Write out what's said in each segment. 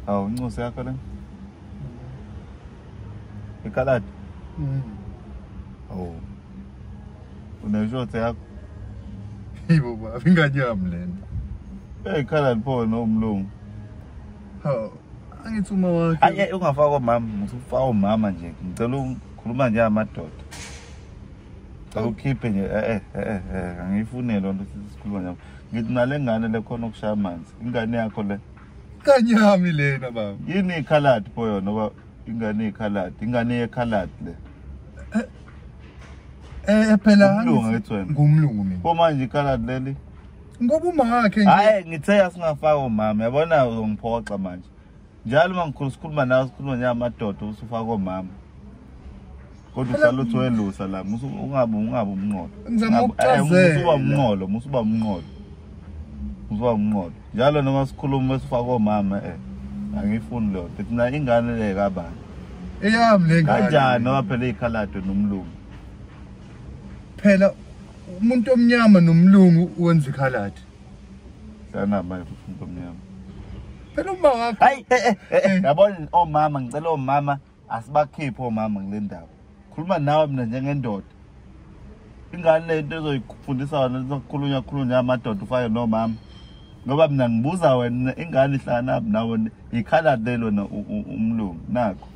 Hawu incosi yakho lena. Ikaladi. Mm. Oh. Uneshothe yakho. Yibo baba ingane yami lena. Eh khala lipho no umlungu. Hawu angithi uma wakhe. Ayi ungafaka umama, ngithi ufaka umama nje. Ngicela ukhuluma nje amadoda. Cela ukhiphe nje eh eh eh, eh angiyifune lonto sisikhuluma nje. Ngithi nalengane lekhona ukushaya amanzi. Ingane yakho le. kanyami lena baba yini ikhaladi pho yona ba ingane ikhaladi ingane yekhaladi le eh, eh, eh phela ngilunga ethi wena ngumlungu mina pho manje ikhaladi leli ngoba umakhe nje hayi ngithe asingafaka umama yabona uzongiphoxa manje njalo uma ngikhulu sikhuluma nawe sikhuluma njengamadoda usufaka omama kodwa uhlala uthi welusa la musu ungabe ungabe umnqolo ngizama ukuchazela uba umnqolo musu uba umnqolo musu uba umnqolo njalo noma sikhuluma esifaka omama eh angifuni leyo nto thina ingane le kabani eyami le ngane kanjani ngoba phela ikhalado nomlungu phela umuntu omnyama nomlungu wenza ikhaladi sana manje umuntu omnyama phela uma wakho hayi eh, eh, eh, yabona omama ngicela omama asibakhiphe omama kule ndaba khuluma nawe mina njengendoda ingane le nto ezoyifundisa wena lizokhulunywa khulunywa amadoda ufake nomama ngoba mina ngibuza wena ingane ihlanganaphi nawe yikhaladi lelo na umlungu nakho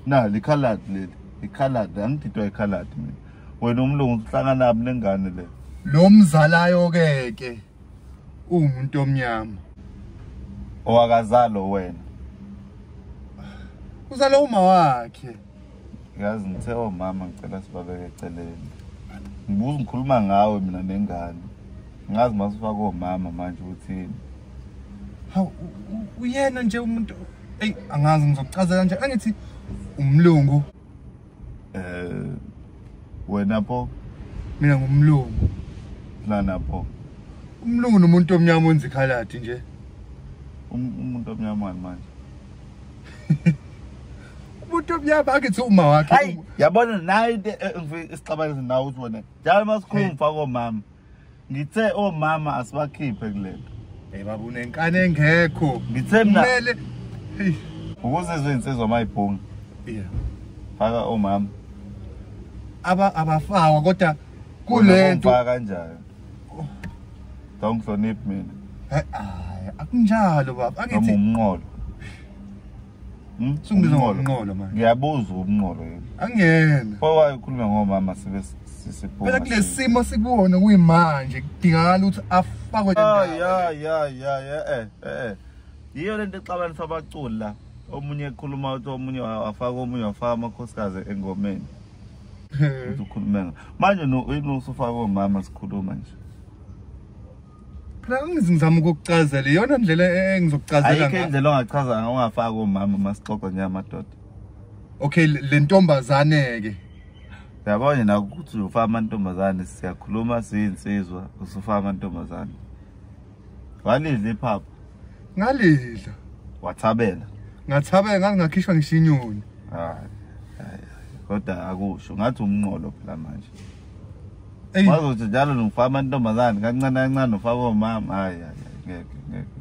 na likhaladi leli ikhaladi angididwa ikhaladi mina wena umlungu uhlanganaphi nengane le lo mzalayo-ke ke uwumuntu omnyama owakazalo wena uzale uma wakhe yazi ngithe omama oh, ngicela sibabeke eceleni ngibuza ngikhuluma ngawe mina nengane ngazi masifaka omama oh, manje uthini hawu uyena nje umuntu eyi angazi ngizokucazela nje angithi umlungu Eh wena pho mina ngumlungu lana pho umlungu nomuntu omnyama onzi khaladi nje um, umuntu omnyama manje umuntu omnyama akithi uma wakhe hayi yabona nayi eh, isixabaniso nawe uthi wena njalo masikhuluma mfako mama ngithe omama asibakhiphe kulento hey baba unenkani engekho ngithe mina kumele ukuze izwe insizwa mayibhunga yeah faka omama aba abafawa kodwa kulento faka kanjani don't hloniphi mina hayi akunjalo baba angithi umnqolo Hmm? Sungibiza ngomnqolo manje. Ngiyabuza umnqolo yini? Angiyena. Pho wayikhuluma ngomama sibe sisiphuma. Phela kulesimo sikuwona kuyimanje kudingakala ukuthi afakwe la. Ya ya ya ya eh eh. Yiyo lento exabanisa abaculi la. Omunye ekhuluma uthi omunye wafaka omunye wafaka amakhosikazi engomeni. Ukhuluma. Manje no uyinusufaka omama sikhuluma nje. phela ngizama ukukucazela iyona ndlela e-, engizokucazela ayikho indlela ongachaza ngayo ungafaki omama uma sixoxa njengamadoda okay le ntombazane-ke yabona nina ukuthi uzofa amantombazane siyakhuluma siyinsizwa usufa amantombazane walidla iphapha ngalidla wathabela ngathabela ngathi ngakhishwa ngishinyoni kodwa akusho ngathi umnqolo phela manje Eyi. Wazothi njalo nofama intombazane kancane kancane ufaka omama. Hayi hayi hayi, ngeke ngeke.